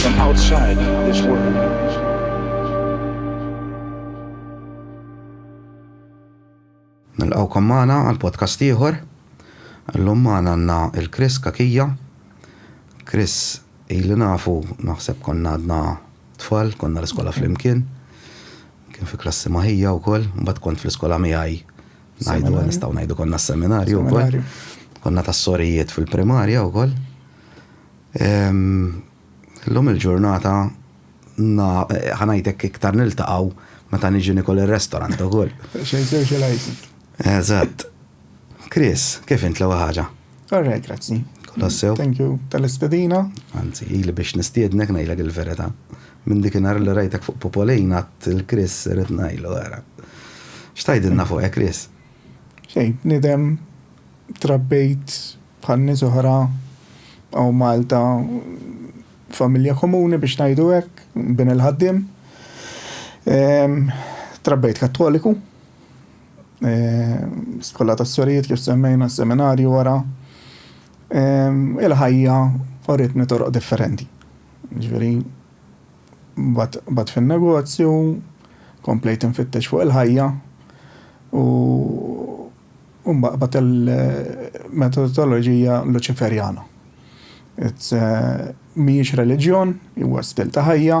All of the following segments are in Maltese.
from outside this world. Nilqawkom magħna għal podcast ieħor. Llum magħna għandna il-Chris Kakija. Chris ili nafu naħseb konna għadna tfal, konna l-iskola flimkien. Kien fi klassi maħija wkoll, mbagħad kont fl-iskola miegħi ngħidu nistgħu ngħidu konna s-seminarju wkoll. Konna tas-sorijiet fil-primarja wkoll. Illum il-ġurnata ħa ngħidlek iktar niltaqgħu meta niġi nikol ir-restorant ukoll. Xejn socializing. Eżatt. Chris, kif int l-ewwel ħaġa? All right, grazzi. Kolossew. Thank you tal-istedina. Anzi, ili biex nistiednek ngħidlek il-verità. Minn dik nhar li rajtek fuq Popolina il-Chris irid ngħidlu ara. X'tajdilna fuq hekk Chris? Xejn, nidem Trabbejt bħal nies oħra hawn Malta f'familja komuni biex ngħidu hekk, bin il-ħaddiem. Trabbejt Kattoliku, skola tas-sorijiet kif semmejna, seminarju wara. Il-ħajja uritni toroq differenti. Ġifieri baqgħet fin-negozju, komplejt infittex fuq il-ħajja u u mbagħad il-metodoloġija Luċiferjana. Mhijiex reliġjon, huwa stil ta' ħajja.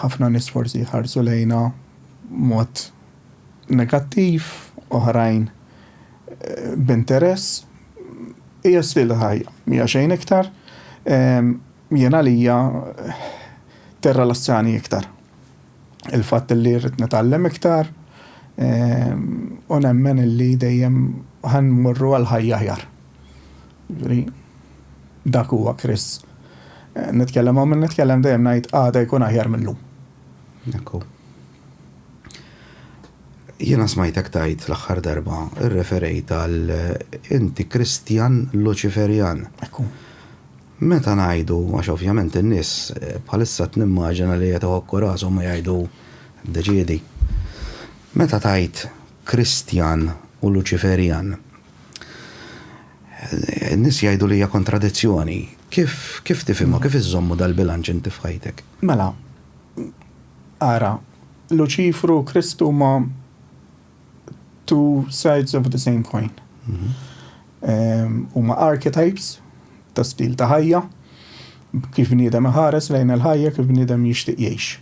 Ħafna nies forsi jħarsu lejna b'mod negattiv, oħrajn b'interess. Hija stil ta' ħajja, mija xejn iktar. Jien għalija tirrilassjani iktar. il-fatt li rrid nitgħallem iktar u nemmen li dejjem ħan morru għal ħajja aħjar. Ġifieri dak huwa Kris. Nitkellem hawn minn nitkellem dejjem ngħid għada jkun aħjar mill-lum. Ekku. Jiena smajtek tajt l-aħħar darba irreferejt għal inti Kristjan Luċiferjan. Ekku. Meta ngħidu, għax ovvjament in-nies bħalissa qed nimmaġina li qed iħokku rashom u jgħidu, Ddeċiedi. Meta tgħid Kristjan u Luċiferjan, in-nies jgħidu li hija kontradizzjoni. Kif, kif tifhimha, kif iżżommu dal-bilanċ inti f'ħajtek? Mela, ara, Luċifru u Kristu huma two sides of the same coin. Mhm. Ehm, u ma archetypes ta' stil ta' ħajja, kif bniedem ħares lejn il-ħajja, kif bniedem jixtieq jgħix.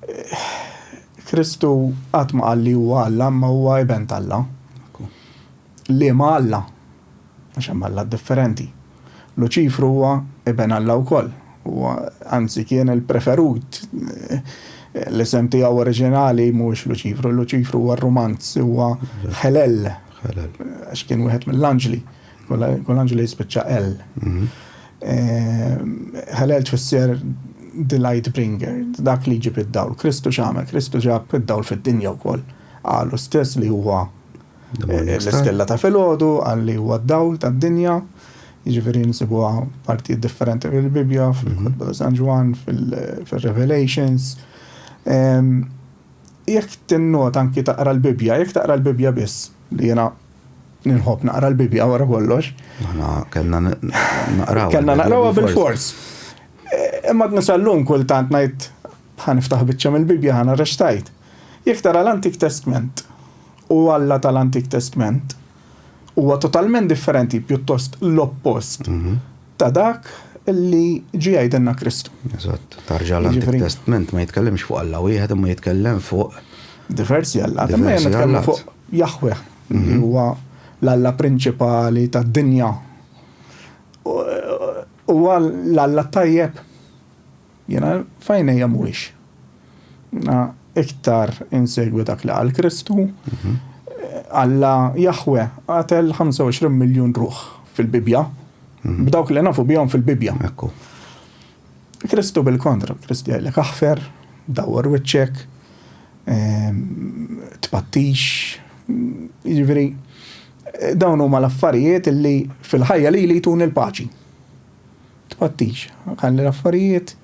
Eh, Kristu qatt ma qal li huwa Alla, ma huwa iben tal-Alla. Liema alla? Għax hemm allat differenti. Luċifru huwa iben Alla wkoll. Huwa, anzi, kien il-preferut. L-isem tiegħu oriġinali mhuwiex Luċifru. Luċifru huwa r-rumanz, huwa Ħelel. Ħelel. Għax kien wieħed mill-anġli. Kull anġli jispiċċa L. Mhm. Eh, Ħelel tfisser the light bringer, dak li ġib id-dawl. Kristu x'għamel? Kristu ġab id-dawl fid-dinja wkoll. Qalu stess li huwa L-istella ta' filgħodu qal li huwa d-dawl tad-dinja, jiġifieri nsibuha partijiet differenti fil-Bibbja, fil-Kotba ta' San Ġwann, fil-Revelations. Jekk tinnota anki taqra l-Bibbja, jekk taqra l-Bibbja biss, li jiena ninħobb naqra l-Bibbja wara kollox. Aħna kellna naqrawha. Kellna naqrawha bil-fors. Imma d-nisallum kultant ngħid ħaniftaħ biċċa mill-Bibbja ħana rextajt. Jekk tara l-Antik Testment u Alla tal-Antik Testment huwa totalment differenti, pjuttost l-oppost ta' dak li ġie jgħidilna Kristu. Eżatt. Tarġa l-Antik Jiġifieri- Testment ma jitkellimx fuq Alla wieħed imma jitkellem fuq Diversi Allat, imma aħna Diversi nitkellmu Allat. fuq Jaħweh, li huwa l-Alla prinċipali tad-dinja. U- Huwa l-Alla t-tajjeb. Jiena f'għajnejja mhuwiex. Jiena iktar insegwi dak li qal Kristu. Alla Jaħwe qatel 25 miljun ruħ fil-Bibbja, b'dawk li nafu bihom fil-Bibbja. Kristu bil-kontra, Kristu jgħidlek aħfer, dawwar wiċċek, ehm, tpattix, jiġifieri dawn huma l-affarijiet li fil-ħajja li li jtuni l-paċi. Tqgħoddix, ħalli l-affarijiet,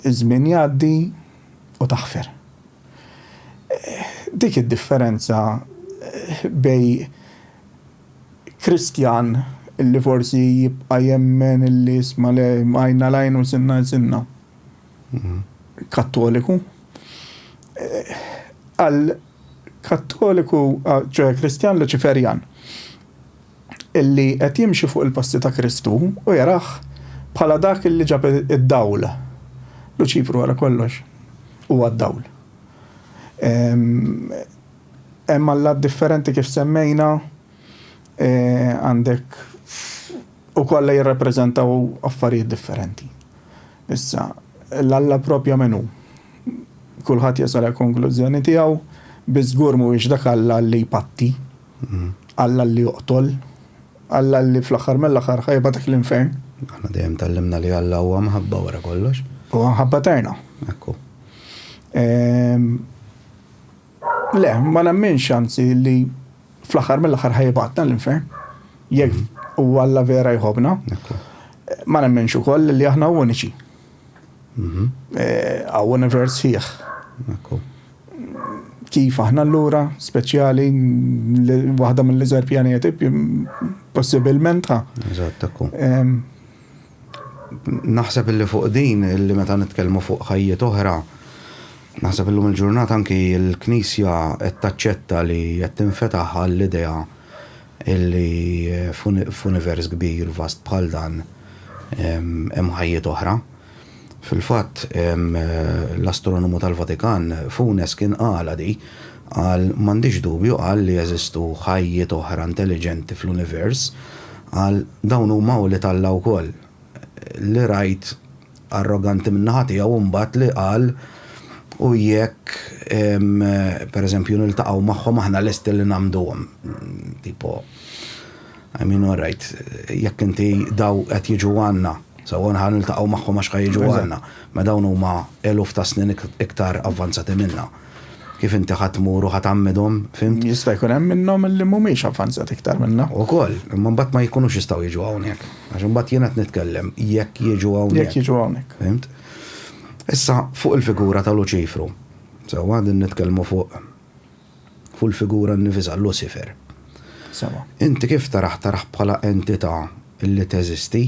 iż-żmien jgħaddi u taħfer. Dik hi d-differenza bejn Kristjan li forsi jibqa' jemmen li isma' le għajn għal għajn u sinna għal sinna, Kattoliku, għal Kattoliku, ċoħe Kristjan Luċiferjan. illi qed jimxi fuq il-passi ta' Kristu u jarah bħala dak illi ġab id-dawl. Luċifru wara kollox huwa d-dawl. Hemm allat differenti kif semmejna, e, għandek u kollha jirrappreżentaw affarijiet differenti. Issa, l-alla propja menu. Kulħadd jasal għal konklużjoni tiegħu, biżgur mhuwiex dak alla li jpatti. Alla li joqtol, Alla li fl-aħħar mill-aħħar ħa jibgħatek l-infern. Aħna dejjem tgħallimna li Alla huwa mħabba wara kollox. Huwa mħabba eterna. Ekku. Ehm, le, ma nemminx anzi li fl-aħħar mill-aħħar ħa jibgħatna l-infern. Jekk mhm. u Alla vera jħobna. Ma nemminx ukoll li aħna uniċi. Għaw univers fih. Kif aħna l-lura, speċjali, waħda mill-iżgħar pjaneti, possibilment ha. Eżattakku. Naħseb illi fuq din, illi meta nitkellmu fuq ħajjiet oħra, naħseb illum il-ġurnata anki l-Knisja qed taċċetta li qed tinfetaħ għall-idea Illi f'univers kbir, vast bħal dan, hemm ħajjiet oħra. Fil-fatt, l-astronomu tal-Vatikan, Funes, kien qalha di. Qal, M'għandix dubju, qal, li jeżistu ħajjiet oħra intelliġenti fl-univers. Qal, Dawn huma wlied Alla wkoll. Li rajt Arroganti min-naħa tiegħu imbagħad li qal, U jekk, per eżempju, niltaqgħu magħhom aħna lesti li ngħammduhom. Tipo, I mean, all right, jekk inti daw qed jiġu għandna, sewwa nħa niltaqgħu magħhom għax ħa jiġu għandna, ma dawn huma eluf ta' snin iktar avvanzati minna. kif inti ħadd tmur u ħadd għammidhom, fimt? Jista' jkun hemm minnhom li mhumiex avvanzati iktar minna. Ukoll, imma mbagħad ma jkunux jistgħu jiġu hawnhekk. Għax imbagħad jien qed nitkellem jekk jiġu hawnhekk. Jekk jiġu hawnhekk. Fimt? Issa fuq il-figura ta' Luċifru. Sewwa din nitkellmu fuq fuq il-figura nnifisha Lucifer. Sewwa. Inti kif tarah tarah bħala entità li teżisti?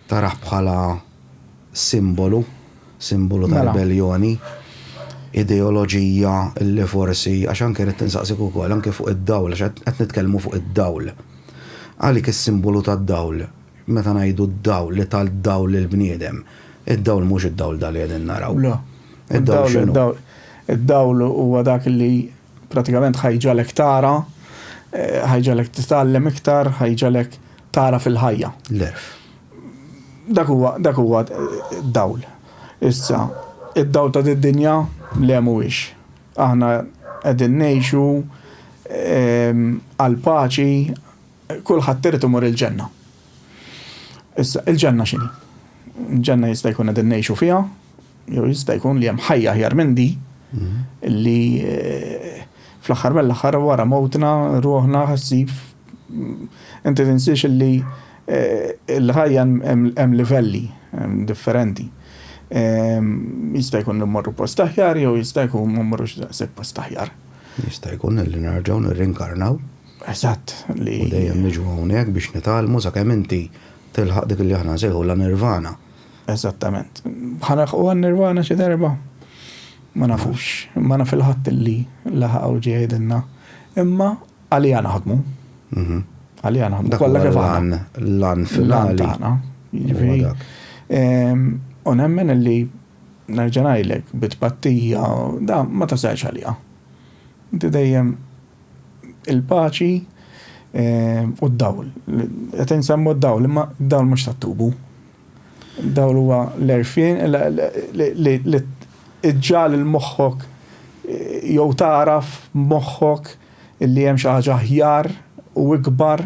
Tarah bħala simbolu, simbolu ta' ribelljoni, ideoloġija li forsi, għax anke ridt insaqsik ukoll anke fuq id-dawl għax qed qed nitkellmu fuq id-dawl. Għalik is-simbolu tad-dawl, meta ngħidu d-dawl li ta d-dawl lill-bniedem, id-dawl mhux id-dawl dan li qegħdin naraw. Le. Id-dawl x'inhu? Id-dawl huwa dak li prattikament ħa jġagħlek tara, ħa jġagħlek titgħallem iktar, ħa jġagħlek tara fil-ħajja. L-għerf. Dak huwa dak huwa dawl. Issa, id-dawl ta' did-dinja le mhuwiex. Aħna qegħdin ngħixu ehm, għal paċi kulħadd irid imur il-ġenna. Issa, il-ġenna x'inhi? Il-ġenna jista' jkun qegħdin ngħixu fiha, Jew jista' jkun li hemm ħajja aħjar minn din li fl-aħħar mill-aħħar wara mewtna ruħna ħassib inti tinsiex li l-ħajja hemm livelli differenti. Jista' jkun li mmorru post aħjar jew jista' jkun ma mmorrux daqshekk post aħjar. Jista' jkun li nerġgħu nirrinkarnaw. Eżatt. Li dejjem niġu hawnhekk biex nitgħallmu sakemm inti tilħaq dik li aħna nsejħu la nirvana. Eżattament. Ħa nilħqu għan-Nirwana xi darba? Ma nafux. Ma naf il-ħadd li laħaq u ġie jgħidilna. Imma għaliha naħdmu. Mhm. Għaliha naħdmu. Kollha kif aħna. L-għan finali. Tagħna. Jiġifieri. Ehm, u nemmen li nerġa' ngħidlek bit-tpattija da ma tasalx għaliha. Inti dejjem il-paċi ehm, u d-dawl. Qed insemmu d-dawl, imma d-dawl mhux tat-tubu. Dawl huwa l-għerfien li ġġagħal lil moħħok jew tagħraf b'moħħok li hemm xi ħaġa aħjar u ikbar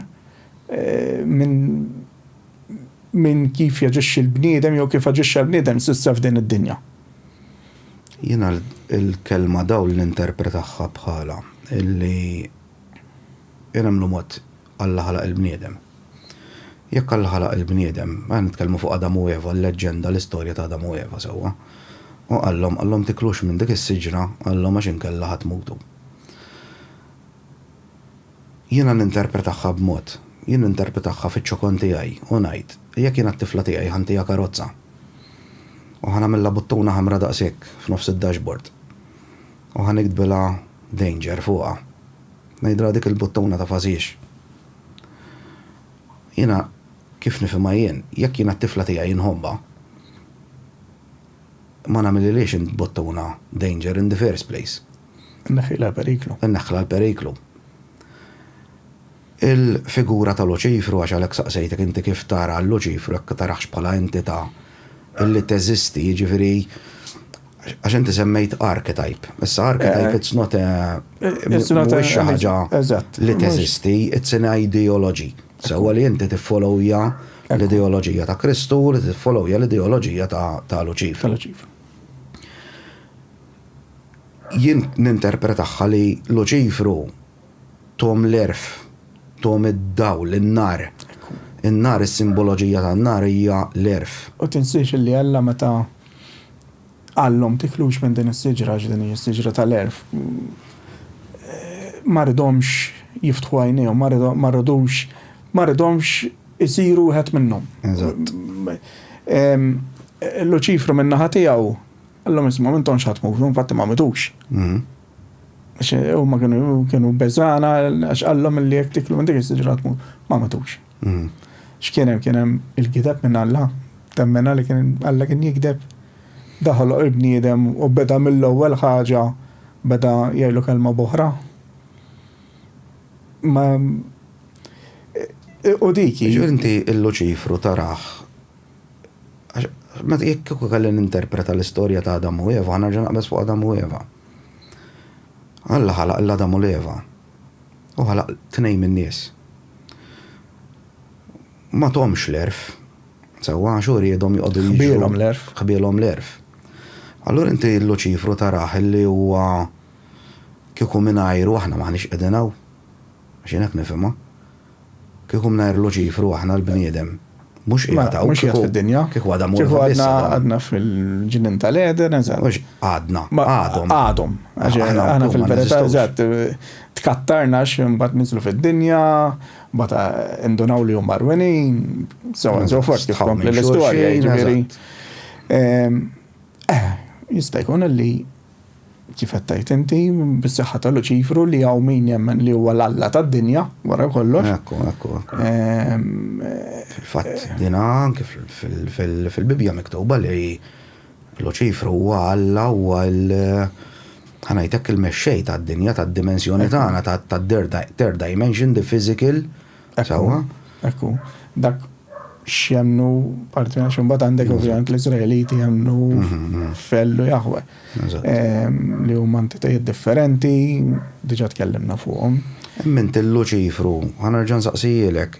minn kif jaġixxi l-bniedem jew kif aġixxa l-bniedem s'issa f'din id-dinja. Jiena l-kelma dawl ninterpretahha bħala li inhem l-mod Alla ħalaq il-bniedem. Jekk Alla ħalaq il-bniedem, mela nitkellmu fuq Adam u Eva, l-leġġenda, l-istorja ta' Adam u Eva, sewwa. U qallhom, qallhom tiklux minn dik is-siġra, qallhom għax inkella ħa tmutu. Jiena ninterpretahha b'mod, jien ninterpretahha fiċ-ċokon tiegħi u ngħid, jekk jiena t-tifla tiegħi ħa ntiha karozza u ħa nagħmilha buttuna ħamra daqshekk f'nofs id-dashboard u ħa niktbilha danger fuqha, Ngħidilha dik il-buttuna ta' fażix. Jiena kif nifhimha jien, jekk jiena t-tifla tiegħi nħobbha, ma nagħmilhilhiex int buttuna danger in the first place. Inneħħilha l-periklu. Inneħħilha l-periklu. Il-figura ta' Luċifru, għax għalhekk saqsejtek inti kif tara lil Luċifru, jekk taraħx bħala entità li teżisti, jiġifieri Għax inti semmejt archetype. Issa archetype it's not a mhuwiex xi ħaġa li teżisti, it's an ideology. Sewwa li inti tiffollowja l-ideoloġija ta' Kristu u li tiffollowja l-ideoloġija ta' Luċifer. Jien ninterpretahha li Luċifru Tom l-għerf, tom id-dawl, in-nar. In-nar, is-simboloġija tan-nar hija l-għerf. U tinsiex li Alla meta qalhom tiklux minn din is-siġra għax din hi s-siġra tal-għerf, ma ridhomx jiftħu għajnejhom, ma ridux, ma ridhomx isiru wieħed minnhom. Eżatt. Luċifru min-naħa tiegħu, qallhom isma' m'intomx ħa tmutu, infatti ma mitux. Għax eh, huma kienu kienu beżana għax qallhom li jekk tiklu minn dik is-siġra tmut. Ma matux. Mm. X'kien hemm kien hemm il-gideb minn Alla, temmena li kien Alla kien jigdeb. Daħol il-bniedem u beda mill-ewwel ħaġa beda jgħidu kelma boħra. Ma eh, u diki. Inti il-Luċifru taraħ Għax jekk kieku kelli ninterpreta l-istorja ta' Adam u Eva, nerġa' naqbeż fuq Adam u Eva. Alla ħalaq lil Adam u lil Eva, u ħalaq tnejn min-nies. Ma thomx l-għerf, sewwa, għax hu riedhom joqogħdu jiġru. Ħbielhom l-għerf. Ħbielhom l-għerf. Allura inti Luċifru tarah li huwa kieku mingħajru aħna m'aħniex qegħdin hawn. Għax jien hekk nifhimha. Kieku mingħajr Luċifru aħna l-bniedem mhux qiegħed hawn. Mhux qiegħed fid-dinja. Kieku għadha morta biss. Kieku għadna għadna fil-ġnien tal-Għeden, eżatt. Mhux għadna, għadhom. Għadhom. Aħna fil-verità eżatt tkattarna għax imbagħad niżlu fid-dinja, bata indunaw li huma rwenin, so on so forth kif kompli l-istorja jiġifieri. Ehm, eh, jista' jkun li Kif qed tgħid inti, bis-saħħa ta' Luċifru li hawn min jemmen li huwa l-alla tad-dinja, wara kollox. Ekku, ekku, ekku. Fil-fatt din anke fil-Bibbja miktuba li Luċifru huwa alla, huwa l, ħa ngħid hekk, il-mexxej tad-dinja, tad-dimensjoni tagħna, tad-third dimension, the physical. Sawa? Ekku, dak x'jemnu parti għax imbagħad għandek ovvjament l-Iżraeliti jemnu mhm, mhm. fellu jaħwe. Ehm, li huma entitajiet differenti, diġà tkellimna fuqhom. Emmint il-Luċifru, ħanerġa' nsaqsijilek,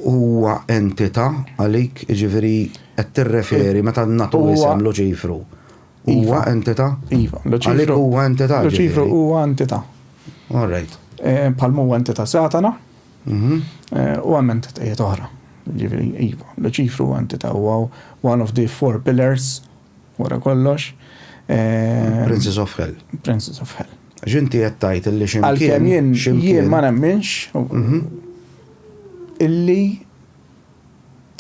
huwa entità għalik, jiġifieri qed tirreferi meta nagħtu isem Luċifru. Huwa iva. entità? Iva. Għalik huwa entità. Luċifru huwa entità. All right. Eh, Palmu huwa entità Satana. Mhm. Eh, u hemm entitajiet oħra. Ġifieri, iva. Luċifru huwa entità huwa one of the four pillars wara kollox. Eh, Princess of Hell. Princess of Hell. Ġinti qed tgħid illi ximkien. Għalkemm jien jien ma nemminx mhm. illi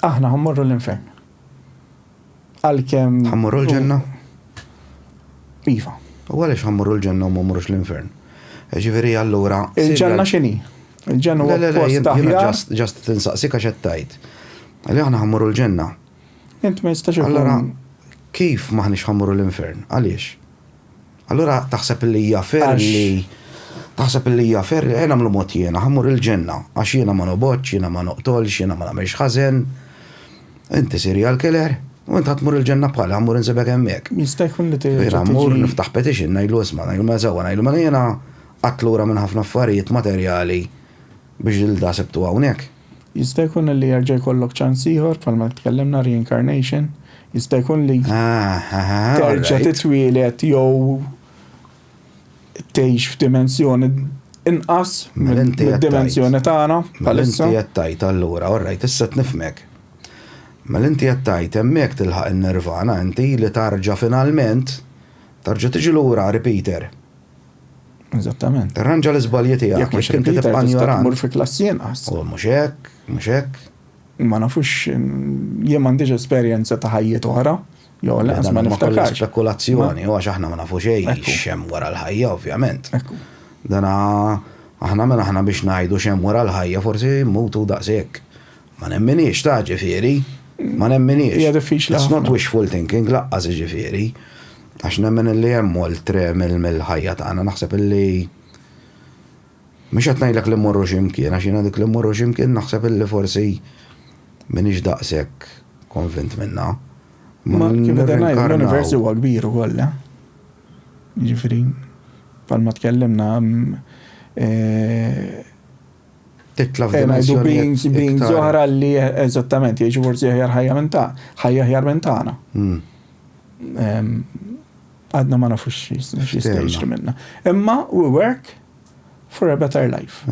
aħna ħammorru l-infern. Għalkemm. Ħammorru l-ġenna? Iva. U għaliex ħammorru l-ġenna u ma mmorrux l-infern? Ġifieri allura. Il-ġenna x'inhi? Il-ġenna huwa post taħjar. Ġast tinsaqsik għax qed tgħid. Li aħna ħammorru l-ġenna. Int ma jistax Allura kif maħniex ħammorru l-infern? Għaliex? Allura taħseb li hija fair li taħseb li hija fair li ejja nagħmlu mod jiena ħa mmur il-ġenna għax jiena ma nobgħodx, jiena ma noqtolx, jiena ma nagħmilx ħażen, inti serial killer u int ħa tmur il-ġenna bħali ħa mmur insibek hemmhekk. Jista' jkun li tiġi. Jiena mmur niftaħ petition ngħidlu isma' ngħidlu mela sewwa ngħidlu mela jiena qatt lura minn ħafna affarijiet materjali B'Gilda sibtu hawnhekk. Jista' jkun li jerġa' jkollok ċans ieħor, bħalma tkellimna reincarnation, jista' jkun li terġa' titwieled jew tgħix f'dimensjoni inqas mid-dimensjoni tagħna bħalissa. Mela inti qed tgħid allura, all right, issa qed nifhmek. Mela inti qed tgħid hemmhekk tilħaq in-Nirvana inti li tarġa' finalment tarġa' tiġi lura repeater. Eżattament. Irranġa l-iżbalji tiegħek. Jekk mhux inti tibqa' ignorant. Mur fi klass jenqas. U mhux hekk, mhux hekk. Ma nafux jien m'għandix esperjenza ta' ħajjiet oħra. Jo, laqas ma niftakarx. Spekulazzjoni, għax aħna ma nafu xejn xem wara l-ħajja, ovvjament. Dana aħna minn aħna biex ngħidu xem wara l-ħajja, forsi mutu daqshekk. Ma nemminhiex ta' ġifieri, ma nemminhiex. Hija diffiċli. It's not wishful thinking laqqas ġifieri. Għax nemmen li hemm oltre mill-ħajja tagħna naħseb li Mhux qed ngħidlek li mmorru x'imkien, għax jiena dik li mmorru x'imkien naħseb li forsi m'iniex daqshekk konvint minnha. Ma kif qed ngħid l-univers huwa kbir ukoll. Ġifieri, bħalma tkellimna titla' f'dimensjonijiet. Being zoħra li eżattament jgħixu forsi aħjar ħajja minn ta' ħajja aħjar minn tagħna. Hmm. Għadna ma nafux x'jistajx minna. Imma we work for a better life.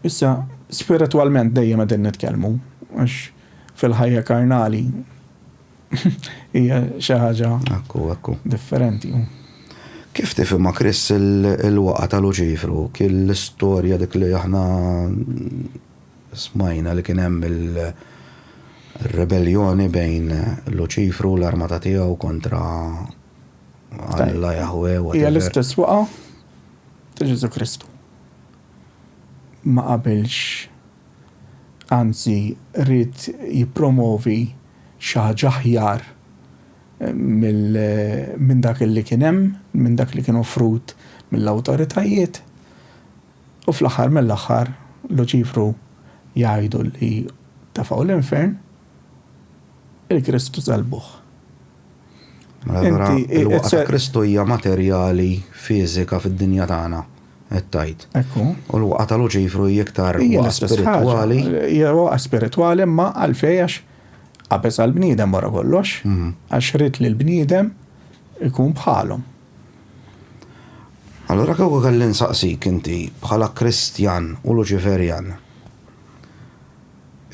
Issa, spiritualment dejjem qegħdin nitkellmu, għax fil-ħajja karnali Hija xi ħaġa differenti. Kif tifhimha Chris il-waqgħa ta' Luċifru? Kien l-istorja dik li aħna smajna li kien hemm il-rebelljoni bejn Luċifru u l-armata tiegħu kontra Alla Jahwe u Hija l-istess waqgħa ta' Ġesu Kristu. Ma qabilx anzi ried jippromovi xi ħaġa aħjar minn dak li kien hemm, minn dak li kien offrut mill-awtoritajiet, u fl-aħħar mill-aħħar Luċifru jgħidu li tefgħu l-infern, il-Kristu sellbuh. Mela allura il-waqgħa ta' Kristu hija materjali, fiżika fid-dinja tagħna, qed tgħid. Ekku. U l-waqgħa ta' Luċifru hi iktar waqgħa spiritwali. Hija waqgħa spiritwali imma għalfejn għax qabeż għall-bniedem wara kollox, għax ried li l-bniedem ikun bħalhom. Allura kieku kelli nsaqsik inti bħala Kristjan u Luċiferjan.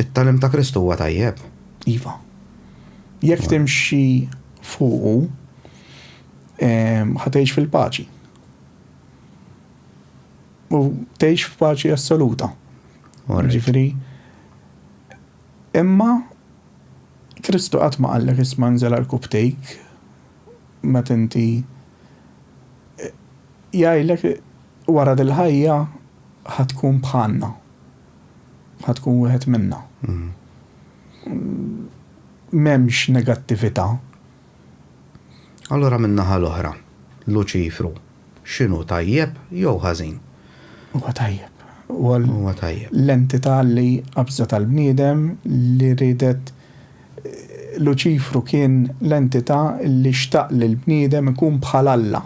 It-tagħlim ta' Kristu huwa tajjeb? Iva. Jekk timxi fuqu, ħa tgħix fil-paċi. U tgħix f'paċi assoluta. Ġifieri, imma Kristu qatt ma qallek isma' nżel għal kubtejk meta inti jgħidlek wara dil-ħajja ħa tkun bħalna. Ħa tkun wieħed minna. M'hemmx negattività. Allura min-naħa l-oħra, Luċifru x'inhu tajjeb jew ħażin? Huwa tajjeb. Huwa tajjeb. L-entità li qabżet għall-bniedem li riedet Luċifru kien l-entità li xtaq li l-bniedem ikun bħal Alla.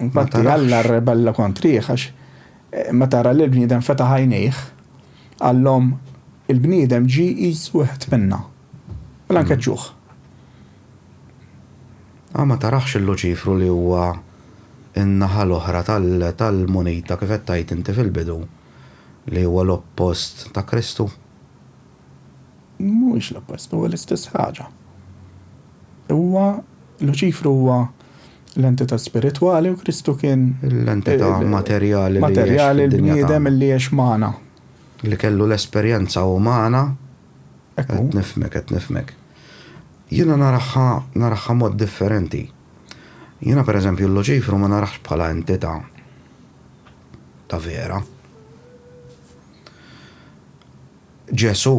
Infatti Alla rrebella kontrih għax Meta ra li l-bniedem fetaħ għajnejh, qallhom, Il-bniedem ġie jqis wieħed minna. Mela nkeċċuh. Aw ma tarax il-Luċifru li huwa n-naħa l-oħra tal-munita kif qed tgħid inti fil-bidu, li huwa l-oppost ta' Kristu? Mhuwiex l-oppost, huwa l-istess ħaġa. Huwa, Luċifru huwa l-entità spiritwali u Kristu kien. L-entità materjali li għex fid-dinja tagħna. Materjali, l-bniedem li għex magħna. Li kellu l-esperjenza umana. Hekk hu. Qed nifhmek, qed nifhmek. Jiena naraha, naraha mod differenti. Jiena pereżempju l-Luċifru ma narahx bħala entità ta' vera. Ġesù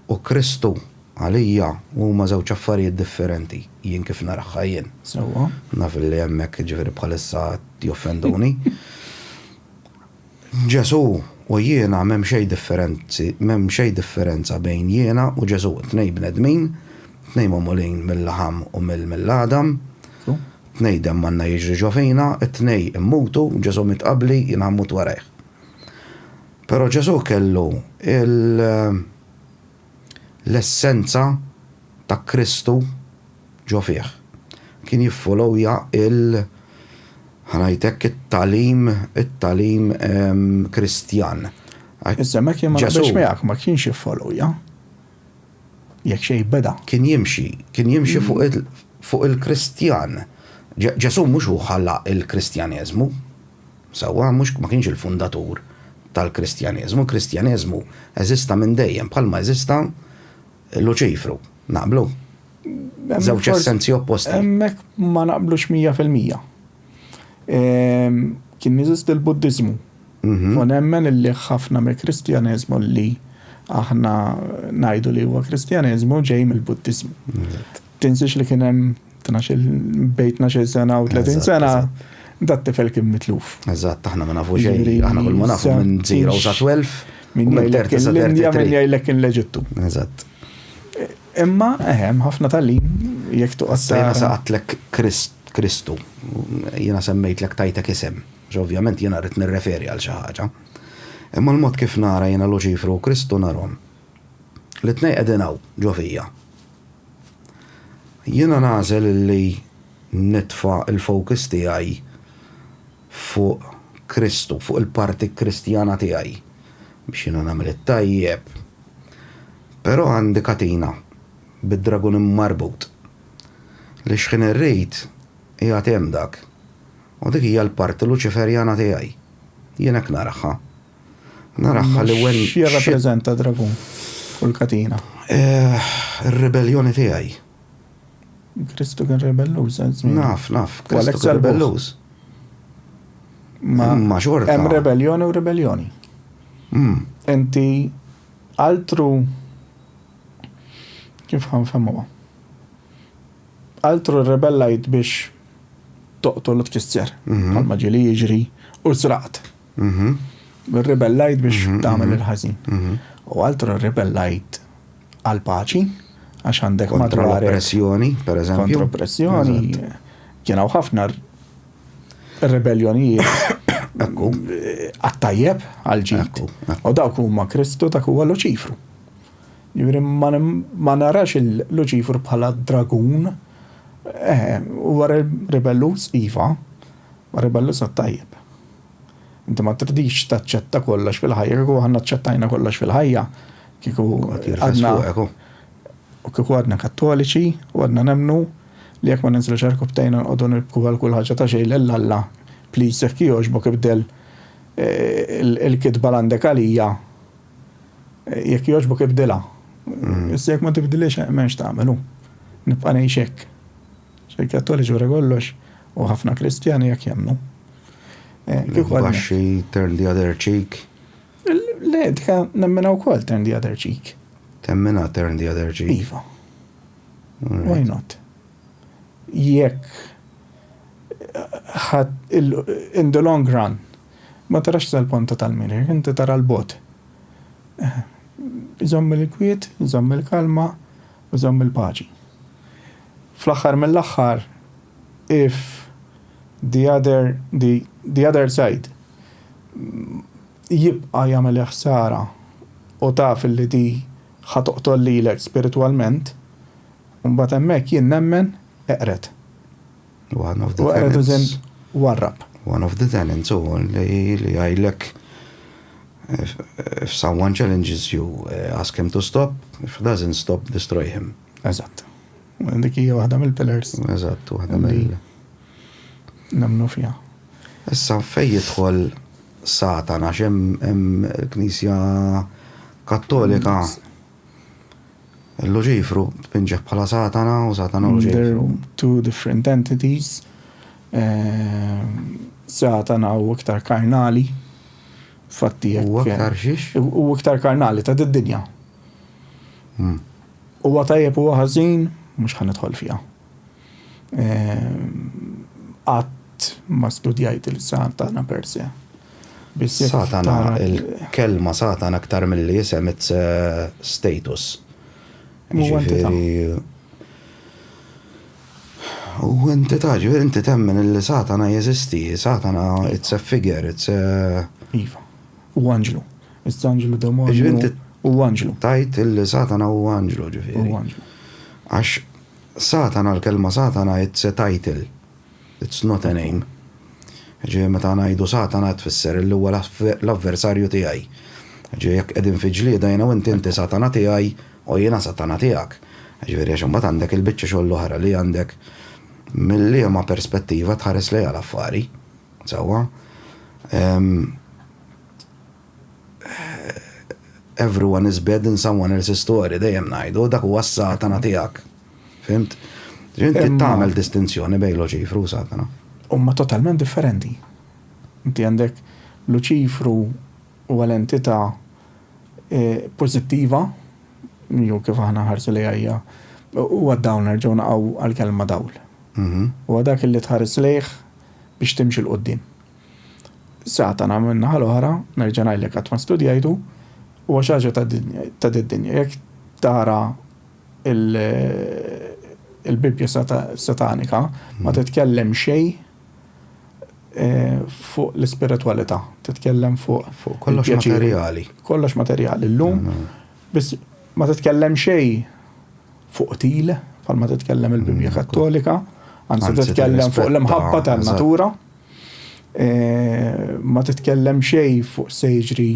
u Kristu għalija huma żewġ affarijiet differenti, jien kif narahha jien. Sewwa. Naf li hemmhekk jiġifieri bħalissa qed joffenduni. Ġesù u jiena m'hemm xejn differenzi, m'hemm xejn differenza bejn jiena u Ġesù. Tnejn bnedmin, tnejn magħmulin mil-laħam u mill-għadam, tnejn demm Alla jiġri ġo fina, it-tnejn immutu, Ġesù miet qabli, jiena ħammut warajh. Però Ġesù kellu l-essenza ta' Kristu ġo fih. Kien jiffolowja il, ħa ngħid hekk, it-tagħlim, it-tagħlim Kristjan. Iżda hemmhekk jien ma naqbilx miegħek, ma kienx jiffolowja. Jekk xejn beda. Kien jimxi, kien jimxi fuq il-Kristjan. Ġesù mhux hu ħalla l-Kristjaneżmu. Sewwa, mhux ma kienx il-fundatur tal-Kristjaneżmu. Il-Kristjaneżmu eżista minn dejjem, bħalma eżista Luċifru. Naqblu? Żewġ essenzi opposti. Hemmhekk ma naqblux mija fil-mija. Kien jeżisti l-Buddiżmu. Mhm. U nemmen li ħafna mill-Kristjaneżmu li aħna ngħidu li huwa Kristjaneżmu ġej mill-Buddiżmu. Tinsiex li kien hemm tnax-il bejn tnax-il sena u 30 sena dat tifel kien mitluf. Eżatt, aħna ma nafu xejn, aħna kull ma nafu minn 0 sa 12, minn jgħidlek l-Indja, minn jgħidlek kien l-Eġittu. Eżatt. Imma eħem, ħafna tal-lin, jekk tuqqas. Sejna saqatlek Kristu, jiena semmejtlek tajtek isem, ovvjament jiena rrid nirreferi għal xi ħaġa. Imma l-mod kif nara jiena Luċifru u Kristu narhom. L-tnej qegħdin hawn ġo fija. Jiena nagħżel li nitfa' l-focus tiegħi fuq Kristu, fuq il-parti Kristjana tiegħi, biex jiena nagħmel it-tajjeb. Però għandi katina bid-dragun immarbut, li xħin irrid qiegħed hemm dak, u dik hija l-parti Luċiferjana tiegħi. Jien hekk naraha. Naraħħa li wen. Xi jirrappreżenta dragun u l-katina? Eh, ir-ribelljoni tiegħi. Kristu kien rebelluż, żmien. Naf, naf, Kristu kien rebelluż. Ma xorta. Hemm rebelljoni u rebelljoni. Hmm. Inti altru kif ħanfemuha? Altru rebellajt biex toqtol u tkisser. Mhm. Bħalma ġieli jiġri u sraqt. Rribellajt biex tagħmel il-ħażin. U altru rribellajt għal paċi għax għandek kontra l-oppressjoni, per eżempju. Kontra l-oppressjoni. Kien hawn ħafna rebelljonijieet għattajjeb għal ġid. U dawk huma Kristu dak huwa Luċifru. Juri ma narax il-Luċifru bħala dragun eh, huwa rebellus iva, ma rebellus għattajjeb. Inti ma tridix taċċetta kollox fil-ħajja, kieku aħna ċċettajna kollox fil-ħajja, kieku għadna. U kieku għadna kattoliċi u għadna nemnu li jekk ma ninżlu ċarku btejna nqogħdu nibku għal kull ħaġa ta' xejn lil Alla, please jekk jogħġbok ibdel eh, il-kitba l-għandek għalija eh, jekk jogħġbok ibdilha. Mm. Issa jekk ma tibdiliex eh, m'hemmx tagħmelu. Nibqa' ngħix hekk. Xejn Kattoliċi wara kollox u ħafna Kristjani hekk jemmnu. Eh, kieku għadna- Baxxi, turn the other cheek. Le, dika nemmina wkoll turn the other cheek. Temmina turn the other cheek. Iva. Alright. Why not? Jekk ħad il- in the long run ma tarax tal-ponta tal-mirir, inti tara l-bot. Iżomm il-kwiet, iżomm il-kalma, iżomm il-paċi. Fl-aħħar mill-aħħar, if the other, the, the other side jibqa' jagħmel il-ħsara u taf illi di ħa toqtol lilek spiritwalment, imbagħad hemmhekk jien nemmen eqred. One of the tenants. U eqred as in warrab. One of the tenants u li jgħidlek if someone challenges you, ask him to stop, if he doesn't stop, destroy him. Eżatt. Dik hija waħda mill-pillars. Eżatt, waħda mill. Nemnu fiha. Issa fejn jidħol Satana x'hemm il-Knisja Kattolika l-Luċifru tpinġeħ bħala Satana u Satana u Luċifru. Two different entities. Eh, Satana u iktar karnali. Fatti. U iktar xiex? U iktar karnali ta' d-dinja. Huwa tajjeb huwa ħażin, mhux ħa nidħol fiha. Qatt ma studjajt il-Satana per se. Satana, il-kelma Satana aktar mill-li jisem it's status. Huwa entità. Huwa entità, ġifieri inti temmen li Satana jeżisti, Satana it's a figure, it's a. Iva. Hu anġlu. It's anġlu, demonju, hu anġlu. Tgħid illi Satana hu anġlu, ġifieri. Hu anġlu. Għax Satana, l-kelma Satana it's a title, it's not a name. Ġifieri meta ngħidu Satana tfisser illi huwa l-avversarju tiegħi. Ġifieri jekk qegħdin fi ġlieda jiena u inti inti Satana tiegħi u jiena Satana tiegħek. Ġifieri għax imbagħad għandek il-biċċa xogħol l-oħra li għandek mil-liema perspettiva tħares lejha l-affari. Sewwa. Ehm. Everyone is bad in someone else's story, dejjem ngħidu, dak huwa s-satana tiegħek. Fimt? Inti tagħmel distinzjoni bejn Luċifru u satana. Huma totalment differenti. Inti għandek Luċifru huwa l-entità eh, pożittiva, jew kif aħna ħarsu li hija huwa dawn nerġgħu naqgħu għall-kelma dawl. Mhm. Huwa dak li tħares lejh biex timxi 'l quddiem. Satana, min-naħa l-oħra, nerġa' ngħidlek qatt ma studjajtu, huwa xi ħaġa ta' did-dinja. Jekk tara l-Bibbja satanika ma titkellem xejn fuq l-ispiritwalità, titkellem fuq. Fuq kollox materjali. Kollox materjali. Illum Biss ma titkellem xejn fuq qtil, bħalma titkellem il-Bibbja Kattolika, anzi titkellem fuq l-imħabba tan-natura. E, ma titkellem xejn fuq se jiġri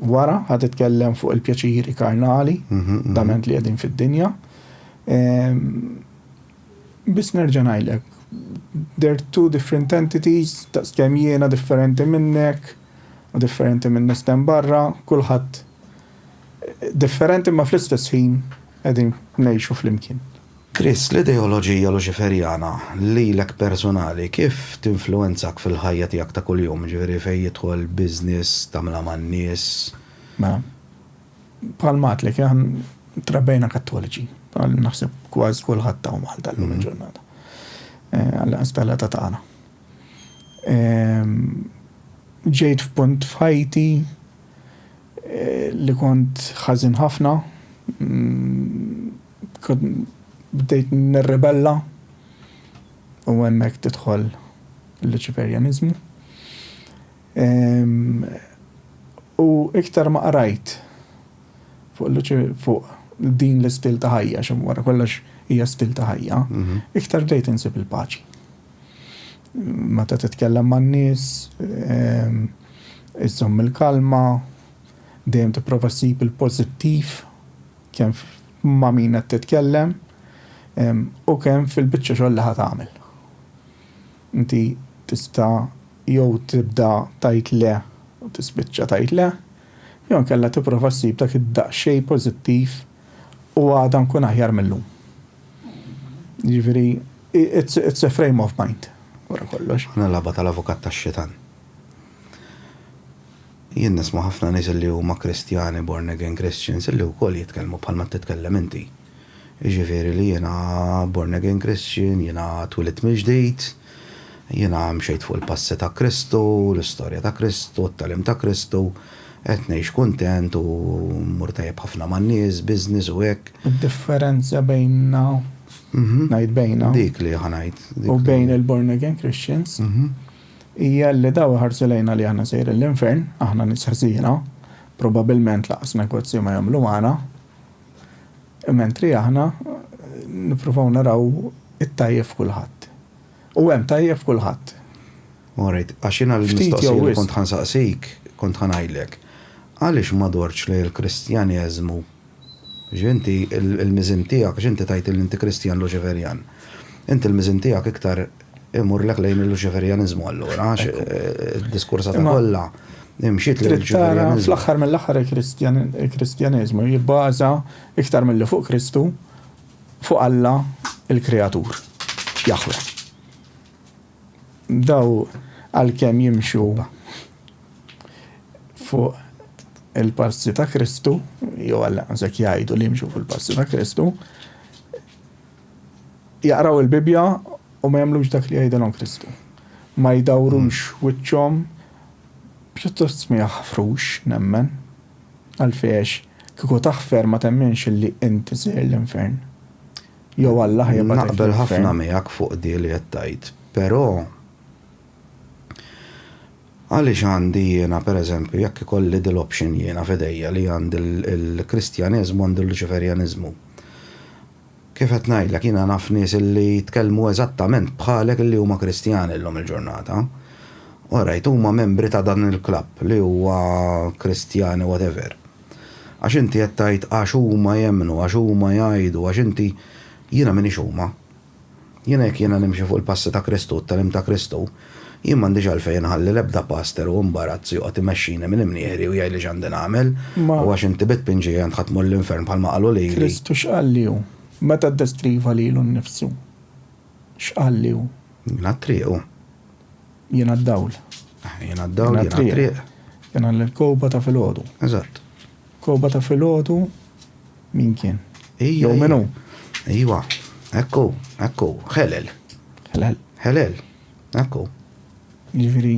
wara, ħad titkellem fuq il-pjaċiri karnali, mhm, mhm. dament li qegħdin fid-dinja. E, biss nerġa' ngħidlek, they're two different entities, ta' kemm jiena differenti minnek, u differenti minn nistem barra, kulħadd Differenti imma fl-istess ħin qegħdin ngħixu flimkien. Chris, l-ideoloġija Luċiferjana lilek personali kif tinfluwenzak fil-ħajja tiegħek ta' kuljum, jiġifieri fejn jidħol business, tagħmilha man-nies? Mela, bħalma għedtlek aħna trabbejna Kattoliċi, bħal naħseb kważi kulħadd hawn Malta llum il-ġurnata. Għall-inqas tal-età tagħna. Ġejt f'punt f'ħajti li kont ħażin ħafna, bdejt nirribella u hemmhekk tidħol il-Luċiferjaniżmu. U iktar ma qrajt fuq din l-istil ta' ħajja, għax wara kollox hija stil ta' ħajja, iktar bdejt insib il-paċi. Meta titkellem man-nies, iżżomm il-kalma, dejjem tipprova ssib il-pożittiv kemm ma' min qed titkellem u kemm fil-biċċa xogħol li ħa tagħmel. Inti tista' jew tibda tgħid le u tispiċċa tgħid le, jew inkella tipprova ssib dak id-daqsxejn pożittiv u għada nkun aħjar mil-lum. Jiġifieri, it's a frame of mind, wara kollox. Din il-lagħba tal-avukat tax-xitan. Jien nisma' ħafna nies li huma Kristjani, born again Christians, li wkoll jitkellmu bħal ma titkellem inti. Jiġifieri li jiena born again Christian, jiena twilit mill-ġdid, Jiena mxejt fuq il-passi ta' Kristu, l-istorja ta' Kristu, t-tagħlim ta' Kristu, qed ngħix kuntent u mmur tajjeb ħafna man-nies, business u hekk. Id-differenza bejnna, ngħid bejnna. Dik li ħa ngħid. U bejn il-born again Christians hija li dawn iħarsu lejna li aħna sejrin l-infern, aħna nies ħżiena, probabilment lanqas negozju ma jagħmlu magħna, Mentri aħna nippruvaw naraw it-tajjeb f'kulħadd. U hemm tajjeb f'kulħadd. All right, għax jiena l-mistoqsija li kont ħa nsaqsik, kont ħa ngħidlek, għaliex ma dortx lejn il-Kristjaneżmu? Għax inti l-miżien tiegħek, għax inti tgħid li inti Kristjan Luċiferjan. Inti l-miżien tiegħek iktar Immurlek lejn il-Luċiferjaniżmu allura, għax id-diskursata eh, kollha imxiet lejn il-Luċiferjaniżmu. Fl-aħħar mill-aħħar il-Kristjaniżmu jibbaża iktar milli fuq Kristu fuq Alla il-Kreatur, Jahwe. Daw għalkemm jimxu fuq il-passi ta' Kristu, jew għalla għazek jgħidu li jimxu fuq il-passi ta' Kristu, Jaqraw il-Bibbja u ma jagħmlux dak li jgħidilhom Kristu. Ma jdawrux wiċċhom, pjuttost ma jaħfrux, nemmen. Għalfejn għax kieku taħfer ma temminx illi inti sejjer l-infern. Jew Alla ħa jibgħatek l-infern. Naqbel ħafna miegħek fuq din li qed tgħid, però għaliex għandi jiena pereżempju jekk ikolli din l-option jiena f'idejja li għandi l-Kristjaneżmu għandi l-Luċiferjaniżmu. Kif qed ngħidlek, jiena naf nies illi jitkellmu eżattament bħalek illi huma Kristjani llum il-ġurnata. Orajt, huma membri ta' dan il-klabb li huwa Kristjani whatever. Għax inti qed tgħid għax huma jemmnu, għax huma jgħidu, għax inti, jiena m'iniex huma. Jien hekk jiena nimxi fuq il-passi ta' Kristu u t-tagħlim ta' Kristu, jien m'għandix għalfejn inħalli l-ebda paster u imbarazz joqgħod imexxini minn imnieħri u jgħidli x'għandi nagħmel, u għax inti bi tpinġi għajn ħa tmur l-infern bħalma qalu lili. Kristu x'qal li hu? Meta ddeskriva lilu nnifsu, x'qal li hu? Jiena t-triq u. Jiena d-dawl. Jiena d-dawl, jiena t-triq. Jiena l-kewkba ta' filgħodu. Eżatt. Kewkba ta' filgħodu. Min kien? Jew min hu? Iwa, ekku, ekku, ħelel. Ħelel. Ħelel, ekku. Ġifieri,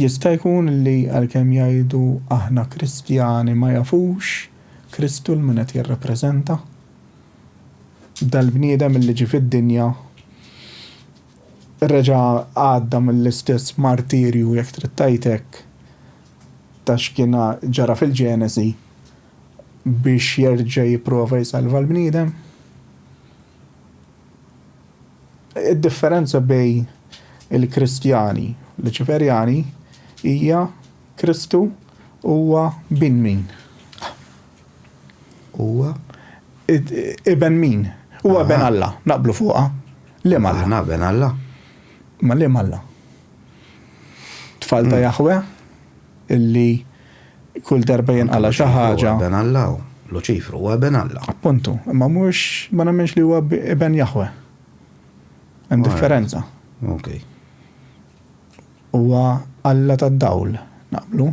jista' jkun li għalkemm jgħidu aħna Kristjani ma jafux Kristu l-min qed jirrappreżenta? Dal-bniedem li ġie fid-dinja reġa' għadda mill-istess martirju jekk trid tgħid hekk ta' x'kien ġara fil-Ġenesi biex jerġa' jipprova jsalva l-bniedem. Id-differenza bejn il-Kristjani u Luċiferjani hija Kristu huwa bin min? Huwa iben min? Huwa ben Alla, naqblu fuqha. Liema Alla? Aħna ben Alla. Ma liema Alla? Tfal ta' Jaħwe illi kull darba jinqala' xi ħaġa. Iben Alla hu. Luċifru huwa iben Alla. Appuntu, imma mhux ma nemminx li huwa iben Jaħwe. Hemm differenza. Okej. Huwa Alla tad-dawl, naqblu?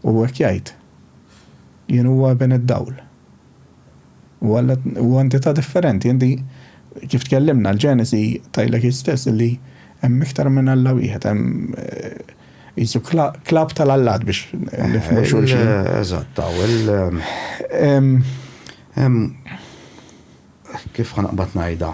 U hekk jgħid, Jien huwa Iben id-dawl. U Alla huwa entità differenti. Inti, kif tkellimna, l-Ġenesi tgħidlek hi stess illi hemm iktar minn Alla wieħed, hemm qisu klabb tal-allat biex nifhmu xulxin. Eżatt, hemm kif ħa naqbad ngħidha.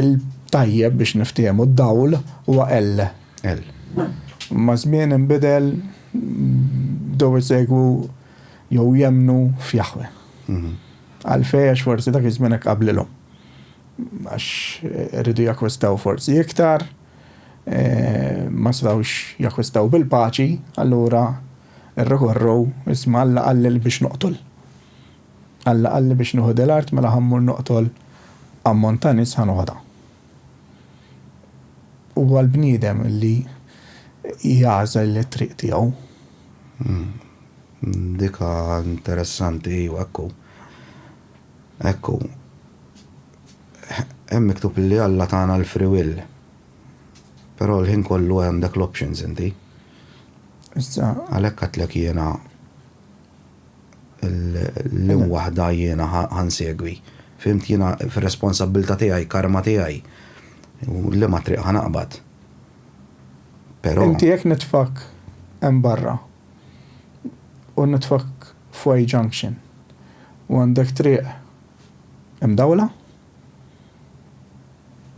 Il-tajjeb biex niftiehmu d-dawl huwa L. Maż-żmien inbidel, bdew isegwu jew jemmnu f'Jaħweh. Għalfejn? Għax forsi dak iż-żmien hekk qablilhom. Għax iridu jakkwistaw forsi iktar, ma setgħux jakkwistaw bil-paċi, allura rrikorrew, isma' Alla qalli biex noqtol. Alla qalli biex nieħu dil-art mela ħa mmur noqtol ammont ta' nies ħa noħodha. Huwa l-bniedem li jagħżel it-triq tiegħu. Hmm. Dika interessanti, iva, ekku. Ekku. Hemm miktub li Alla tagħna l-free will. Però l-ħin kollu għandek l-options inti. Issa. Għalhekk għatlek jiena L-im waħda jiena ħa nsegwi. Fhimt jiena fir-responsabbiltà tiegħi, karma tiegħi. U liema triq ħa naqbad. Però. Inti jekk nitfgħek hemm barra u nitfgħek f'Y Junction u għandek triq imdawla,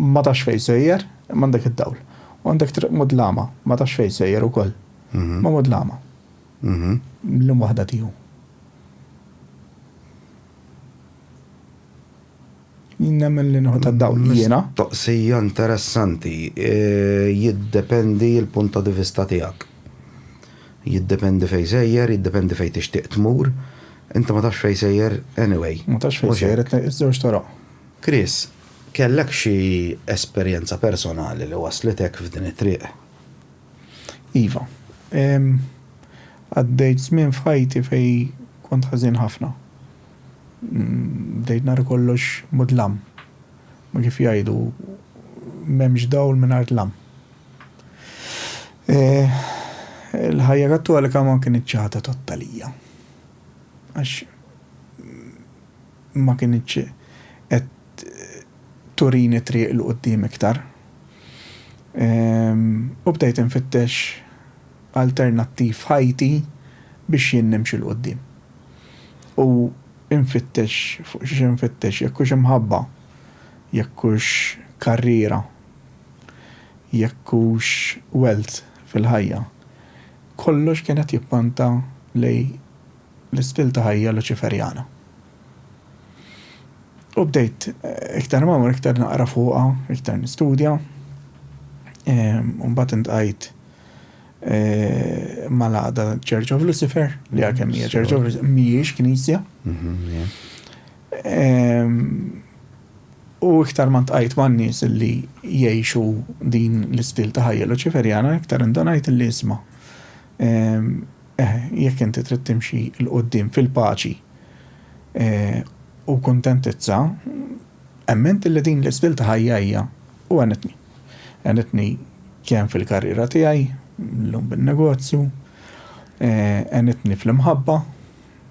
ma tafx fejn sejjer, imma għandek id-dawl. U għandek triq mudlama, ma tafx fejn sejjer ukoll, imma mudlama. l-imwaħħda tiegħu. Jien nemmen li nieħu tad-dawl jiena. Mistoqsija interessanti. Jiddependi l-punt ta' divista tiegħek. Jiddependi fejn sejjer, jiddependi fejn tixtieq tmur. Inti ma tafx fejn sejjer anyway. Ma tafx fejn sejjer iż-żewġ toroq. Chris, kellek xi esperjenza personali li wasslitek f'din it-triq? Iva. Għaddejt żmien f'ħajti fejn kont ħażin ħafna. Bdejt nara kollox mudlam. Ma kif jgħidu, m'hemmx dawl mingħajr dlam. Il-ħajja Kattolika ma kinitx xi ħaġa totta lija. Għax ma kinitx qed turini t-triq 'l quddiem iktar. U bdejt infittex alternattiv f'ħajti biex jien nimxi 'l quddiem. U nfittex, fuq xiex infittex, jekk hux imħabba, jekk hux karriera, jekk hux wealth fil-ħajja, kollox kien qed jippanta lejn l-istil ta' ħajja Luċiferjana. U bdejt iktar ma mur iktar naqra fuqha, iktar nistudja. Ehm, u mbagħad intqajt eh, mal-għada Church of Lucifer, li għakem hija Church of Lucifer, mhijiex knisja. Mhm, ehm, u iktar ma ntqajt ma' nies li jgħixu din l-istil ta' ħajja Luċiferjana, iktar indonajt li isma' Eħe, jekk inti trid timxi 'l quddiem fil-paċi u kuntentizza, emmint li din l-istil ta' ħajja hija u għenitni. Għenitni kemm fil-karriera tiegħi, llum bin-negozju, għenitni fl-imħabba,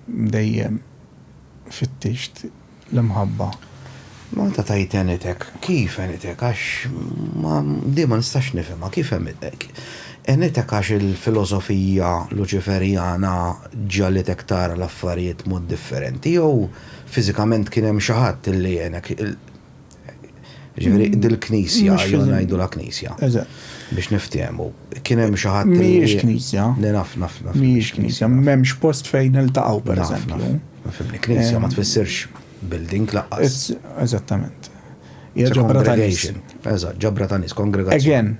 Dejjem fittixt l-imħabba. Malta tgħid għenitek. Kif għenitek? Għax ma, din ma nistax nifhimha. Kif għenitek? Għenitek għax il-filosofija Luċiferjana ġagħlitek tara l-affarijiet mod differenti jew fiżikament kien hemm xi ħadd li għenek? Ġifieri dil-knisja, jew ngħidu la knisja. Biex niftehmu. Kien hemm xi ħadd Mhijiex knisja. Le naf, naf, naf. Mhijiex knisja, m'hemmx post fejn iltaqgħu pereżempju. Knisja ma tfissirx building laqqas. Eżattament. Hija ġabra ta' nies. Eżatt, ġabra ta' nies, kongregazzjoni. Again,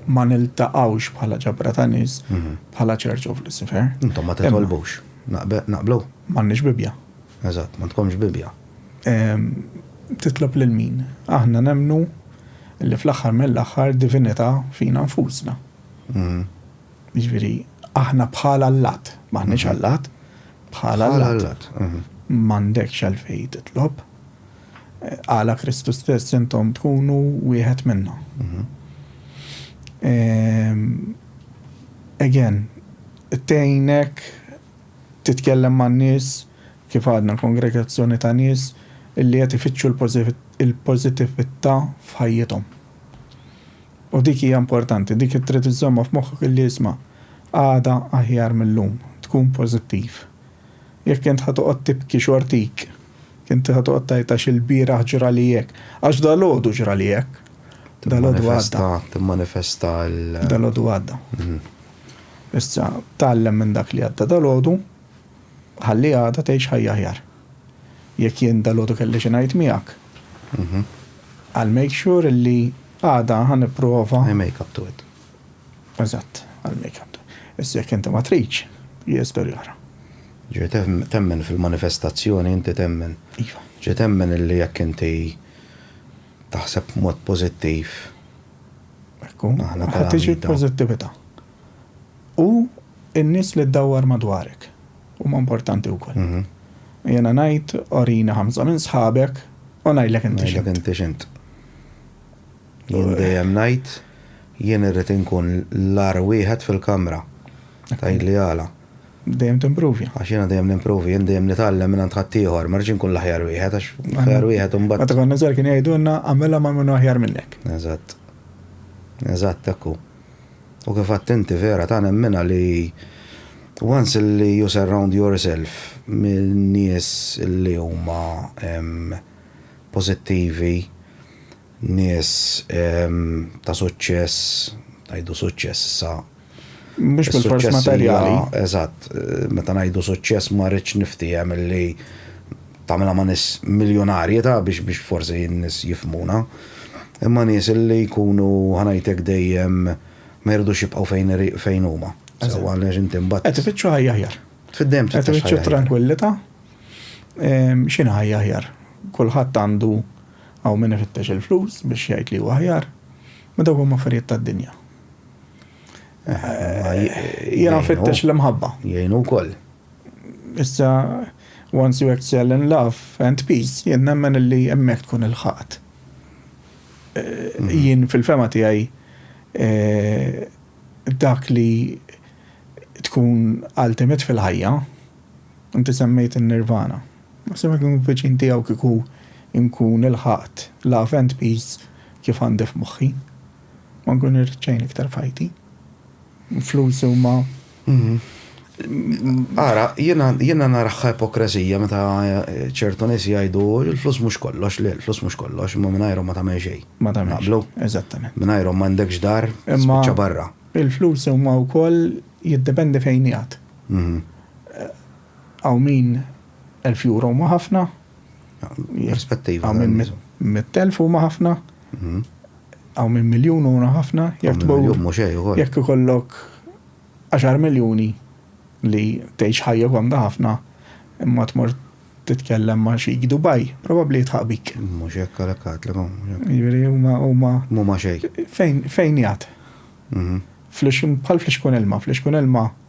ma niltaqgħux bħala ġabra ta' nies bħala Church of Lucifer. Intom ma titolbux. Naqblu? M'għandniex Bibbja. Eżatt, ma tkomx Bibbja. Titlob lil min? Aħna nemmnu li fl-aħħar mill-aħħar divinità fina nfusna. Jiġifieri aħna bħal allat, m'aħniex allat, bħal allat. M'għandekx għalfejn titlob. Qala Kristu stess intom tkunu wieħed minna. Again, tgħinek Titkellem man-nies, kif għadna, kongregazzjoni ta' nies li qed ifittxu l-pożittività f'ħajjithom. U dik hija importanti, dik li trid iżżommha f'moħħok li isma', għada aħjar mil-lum, tkun pożittiv. Jekk int ħa toqgħod tibki xortik, int ħa toqgħod tgħid għax ilbieraħ ġrali hekk, għax dalgħodu ġrali hekk, dalgħodu għadda. Timmanifesta l. Dalgħodu għadda. Issa, tgħallem minn dak li għadda dalgħodu, ħalli għada tgħix ħajja aħjar. Jekk jien dalgħodu kelli xi ngħid miegħek, I'll make sure li għada ħa nipprova. I make up to it. Eżatt, I'll make up to it. Issa jekk inti ma tridx, hija storja oħra. Ġi temmen fil-manifestazzjoni, inti temmen. Iva. Ġi temmen illi jekk inti taħseb mod pożittiv, Ħa tiġi l-pożittività. U n-nies li ddawwar madwarek huma importanti wkoll. Jiena ngħid orini ħamsa minn sħabek u ngħidlek inti x'int. Ngħidlek inti x'int. Jien dejjem ngħid jien irrid inkun l-agħar wieħed fil-kamra. Tgħidli għala. Dejjem timprovi. Għax jiena dejjem nimprovi, jien dejjem nitgħallem mingħand ħaddieħor, ma rridx inkun l-aħjar wieħed għax l-aħjar wieħed imbagħad. Meta konna żgħar kienu jgħidulna għamilha ma' min hu aħjar minnek. Eżatt. Eżatt hekk hu. U kif għedt inti vera ta' nemminha li once li you surround yourself minn nies li huma pożittivi, nies ta' suċċess, ngħidu suċċess issa Mhux bil-fors materjali. Eżatt, meta ngħidu suċċess ma rridx niftiehem li tagħmilha ma' nies miljonarji ta' biex biex forsi n-nies jifhmuna. Imma nies li jkunu ħanajtek dejjem ma jridux jibqgħu fejn fejn huma. Sewwa għaliex inti mbagħad. Qed ifittxu ħajja aħjar. Fid-dejjem trid. Qed ifittxu tranquillità. X'inhi ħajja aħjar? Kulħadd għandu hawn min ifittex il-flus biex jgħid li huwa aħjar. Ma dawk huma affarijiet tad-dinja. Jena fittex l-imħabba. Jgħinu wkoll. Issa, once you excel in love and peace, jien nemmen li hemmhekk tkun il-ħaqt. Mhm. Jien fil-fema tiegħi eh, dak li tkun ultimate fil-ħajja, inti semmejt in-nirvana. Ma semmek nkun viċin tiegħu kieku nkun il-ħaqt love and peace kif għandif moħħi. Ma nkun irrid xejn iktar f'ħajti. Flus huma. Ara, jiena naraħħa ipokrazija meta eh, ċertu nies jgħidu il-flus mhux kollox, le l-flus mhux kollox, imma mingħajrhom ma tagħmel xejn. Ma tagħmel. Naqblu? Eżattament. Mingħajrhom m'għandekx dar, spiċċa barra. Il-flus huma wkoll jiddependi fejn jgħat. Mhm. Għaw min 1000 euro ma ħafna. Perspettiva. Għaw min 100,000 huma ħafna. Mhm. Hawn minn miljun huma ħafna, jekk tmur jekk ikollok 10 miljuni li tgħix ħajja komda ħafna imma tmur titkellem ma' xi Dubai, probabbli jitħaq bik. Mhux hekk għalhekk għadlek Jiġifieri huma huma. Huma xejn. Fejn fejn jgħad? Mhm. Bħal flixkun ilma, flixkun ilma.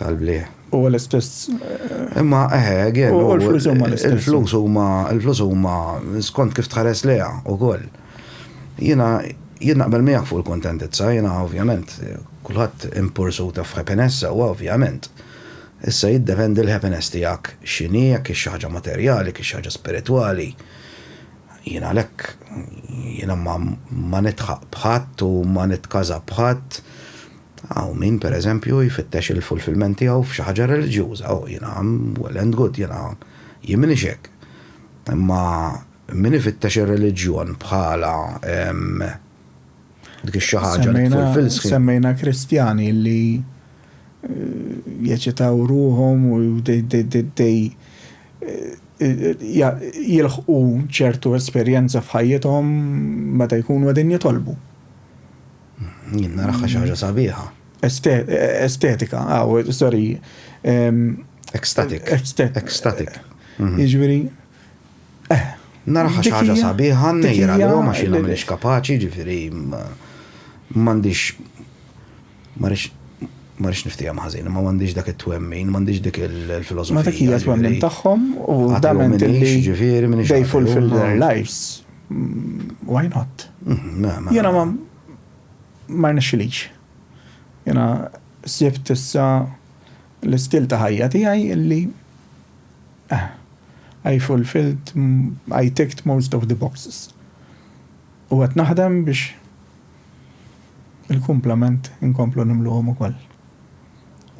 tal-bliħ. Huwa l-istess. Imma eħe, again, u l-flus huma l-istess. Il-flus huma, il-flus huma skont kif tħares leha wkoll. Jiena jien naqbel miegħek fuq il-kuntentizza, jiena ovvjament kulħadd in pursuit of happiness sewwa ovvjament. Issa jiddependi l-happiness tiegħek x'inhi, jekk hix xi ħaġa materjali, jekk hix xi ħaġa spiritwali. Jiena għalhekk jiena ma nidħaq b'ħadd u ma nitkaża b'ħadd. Hawn min, per eżempju, jfittex il-fulfillment tiegħu f'xi ħaġa reliġjuża, oh, jiena well and good, jiena jien m'iniex hekk. Imma min ifittex ir-reliġjon bħala dik ix-xi ħaġa li tfulfill sħiħ. Semmejna Kristjani li jeċitaw ruhom u dej jilħqu ċertu esperjenza f'ħajjithom meta jkunu qegħdin jitolbu. Jien naraha xi ħaġa sabiħa. Estetika, aw, sorry. Ecstatic. Ecstatic. Mhm. Jiġifieri. Eh. Naraha xi ħaġa sabiħa, nejra li ma xi nagħmilx kapaċi, ġifieri m'għandix ma rix ma rix niftijem ħażin, ma m'għandix dak it-twemmin, m'għandix dik il-filosofija. Ma dak hija twemmin tagħhom u dament li ġifieri minn they fulfill their lives. Why not? Mhm, Jena ma ma rnexxilix. Jena sibt issa l-istil ta' ħajja tiegħi illi eh, I fulfilled, I ticked most of the boxes. U għet naħdem biex il-kumplament inkomplu nimluħom u koll.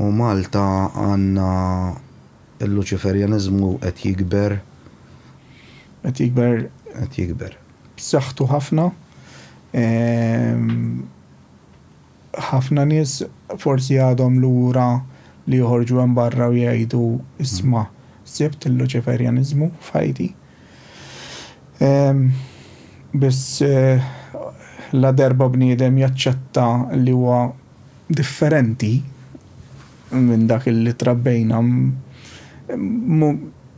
U Malta għanna Il-Luċiferjaniżmu qed jikber. Qed jikber. Qed jikber. B'saħħtu ħafna. Ħafna nies forsi għadhom lura li joħorġu hemm barra u jgħidu isma' sibt il-Luċiferjaniżmu f'ħajti. Biss ladarba bniedem jaċċetta li huwa differenti, minn dak li trabbejna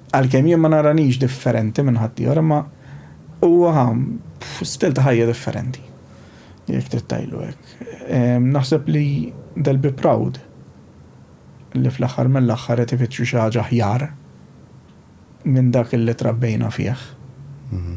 għalkemm jien ma naranix differenti minn ħaddieħor imma huwa stil ta' ħajja differenti jekk trid tgħidlu hekk. Ehm, naħseb li they'll be proud li fl-aħħar mill-aħħar qed ifittxu xi ħaġa ħjar minn dak li trabbejna fih. Mhm.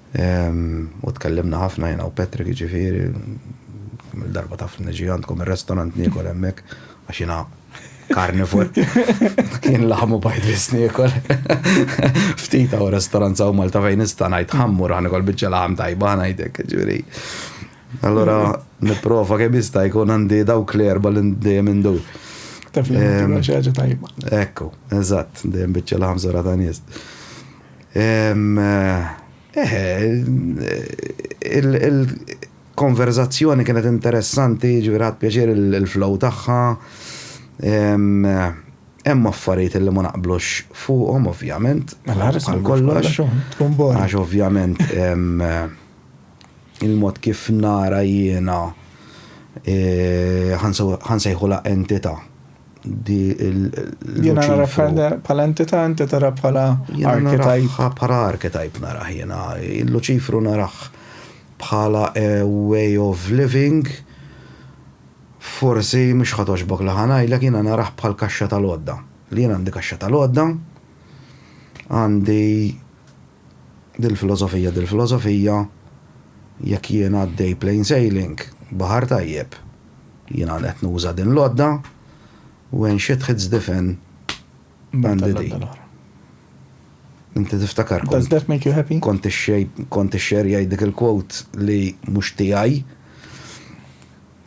U tkellimna ħafna jiena u Patrick jiġifieri, kemm il-darba taf niġi għandkom ir-restorant niekol hemmhekk għax jiena karnivor. Kien laħam u bajd biss niekol. Ftit hawn restorant saw Malta fejn nista' ngħid ħamm u raħ nikol biċċa laħam tajba ngħidlek jiġifieri. Allura nipprova kemm jista' jkun għandi dawk l-erba' li dejjem indur. Taf li xi ħaġa tajba. Ekku, eżatt, dejjem biċċa laħam żorha ta' nies. Eħe, il-konverżazzjoni kienet interessanti, ġifieri ħadt pjaċir il-flow tagħha. Hemm affarijiet li ma naqblux fuqhom ovvjament. Mela bħal kollox. Għax ovvjament il-mod kif nara jiena ħansejħulha entità. di l-luċi. Jena nara bħala entita, inti tara bħala archetype. Bħala archetype naraħ jena. Il-luċifru naraħ bħala a way of living. Forsi mux ħatoġbok li ħanajlek jena naraħ bħal kaxxa tal-odda. Li jena għandi kaxxa tal-odda, għandi dil-filosofija, dil-filosofija, jekk jena għaddej plain sailing, bahar tajjeb, Jiena qed nuża din l-għodda when shit hits the fan bandi di. Inti tiftakar kont. Does that make you happy? Kont ix-xerjaj dik il-quote li mhux tiegħi.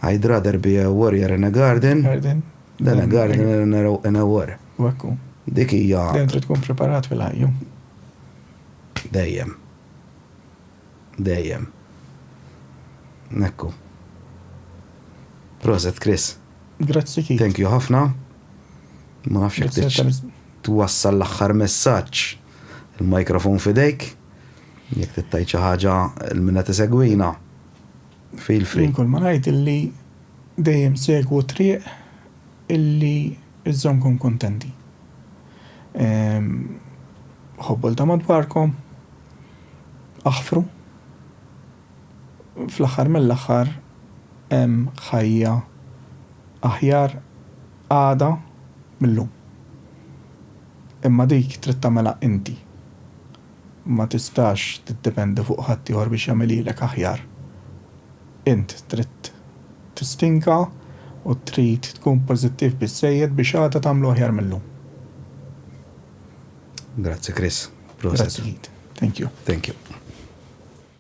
I'd rather be a warrior in a garden. Garden. Than a gardener in a war. Wakku. Dik hija. Dejjem trid tkun preparat fil-ħajju. Dejjem. Dejjem. Hekku. Proset Chris. Grazzi Keith. Thank you ħafna. Ma nafx jekk twassal l-aħħar messaġġ il-mikrofon fidejk. Jekk tittajt xi ħaġa l-minna tisegwina. Feel free. Inkol ma ngħid illi dejjem segwu triq illi iżżomkom kontenti. Ħobbu l ta' madwarkom, aħfru. Fl-aħħar mill-aħħar hemm ħajja aħjar għada mil-lum. Imma dik trid tagħmilha inti. Ma tistax tiddependi fuq ħaddieħor biex jagħmilhielek aħjar. Int trid tistinka u trid tkun pożittiv biżżejjed biex għada tagħmlu aħjar mil-lum. Grazzi Chris. Proset. Grazzi Keith. Thank you. Thank you.